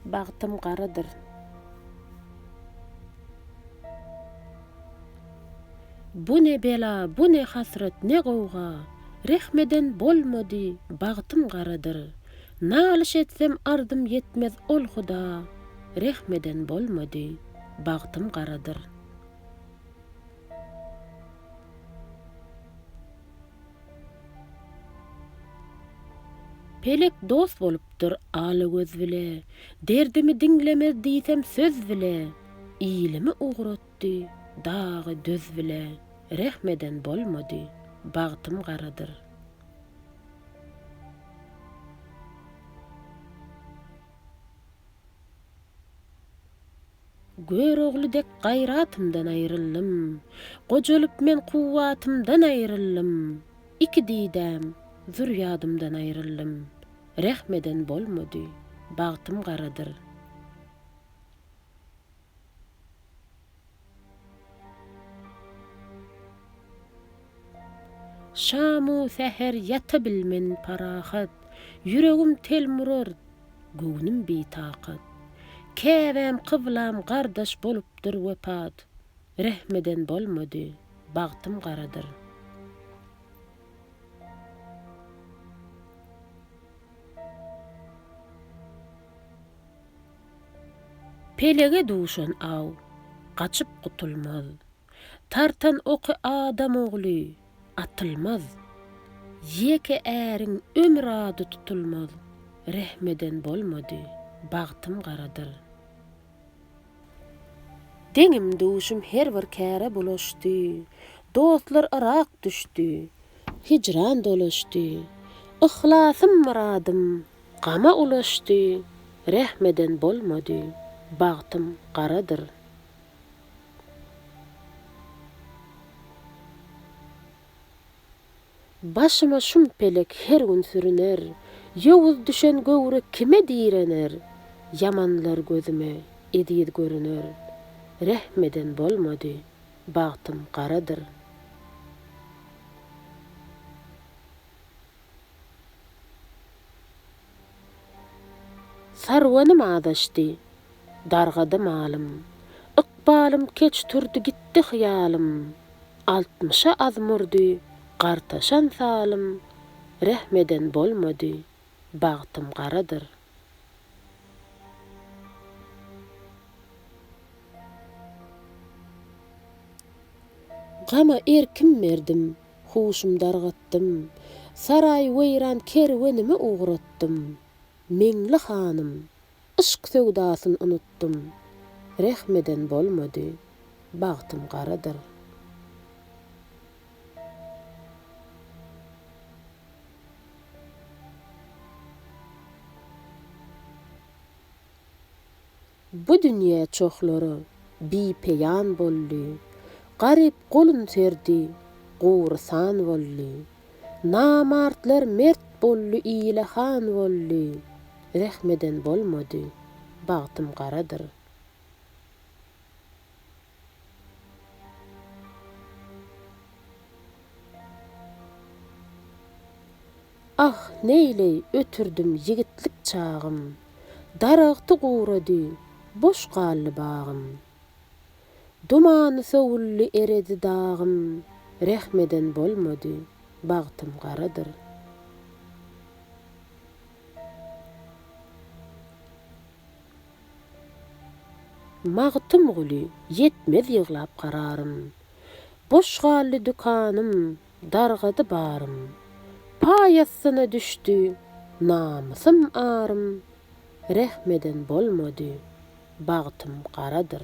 Bagtym garadyr. Bu ne bela, bu ne hasrat, ne gowga, Rehm eden bolmady, bagtym garadyr. Nalyş etsem ardym ýetmez ol huda, Rehm eden bolmady, bagtym garadyr. Pelek dost bolupdyr Alagöz bile, Derdimi diňlemez diýsem söz bile, Ilimi ugratdy dagy döz bile, Rehm eden bolmady, bagtym garadyr. Görogly dek gaýratymdan aýryldym. Gojalyp men kuwwatymdan aýryldym. Iki didäm, zürýadymdan aýryldym. Rehm eden bolmady, bagtym garadyr. Şamu säher ýatabilmen parahat, Ýüregim telim urar, göwnüm bitakat. Käbäm, kyblam gardaş bolupdyr wepat, Rehm eden bolmady, bagtym garadyr. Pelege duşan aw, gaçyp gutulmaz. Tartan oky adam ogly atylmaz, Ýeke äriň ömür ady tutulmaz, Rehm eden bolmady, bagtym garadyr. Deňim-duşum her bir käre bulaşdy, Dostlar yrak düşdi, hijran dolaşdy, Yhlasym myradym gama ulaşdy, Rehm eden bolmady, bagtym garadyr. Başyma şum pelek her gün sürüner, Ýowuz düşen göwre kime direner? Ýamanlar gözüme eziz görüner, Rehm eden bolmady, bagtym garadyr. Sarwanym azaşdy, dargady malym. Ykbalym keç turdy gitdi hyýalym. Altmyşa az murdy gartaşan salym. Rehm eden bolmady, bagtym garadyr. Gama erkim berdim, Huşum dargatdym. Saraý weýran kerwenimi ugratdym. Meňli hanym, yşk söwdasyn unutdym. Rehm eden bolmady. Bagtym garadyr. Bu dünýe çohlara bi-peýan boldy, Garyp golun serdi, gurysan boldy. Namartlar mert boldy, ile han boldy, Rehmeden bolmady, bagtym garadyr. Ah, neýleý, ötürdim ýigitlik çagym, Daragty gurady, boş galdy bagym. Dumany sowuldy, eredi dagym, Rehm eden bolmady, bagtym garadyr. Magtymguly, ýetmez ýyglap gararym. Boş galdy dükanym, dargady barym. Paý astyna düşdi namysym arym. Rehm eden bolmady, bagtym garadyr.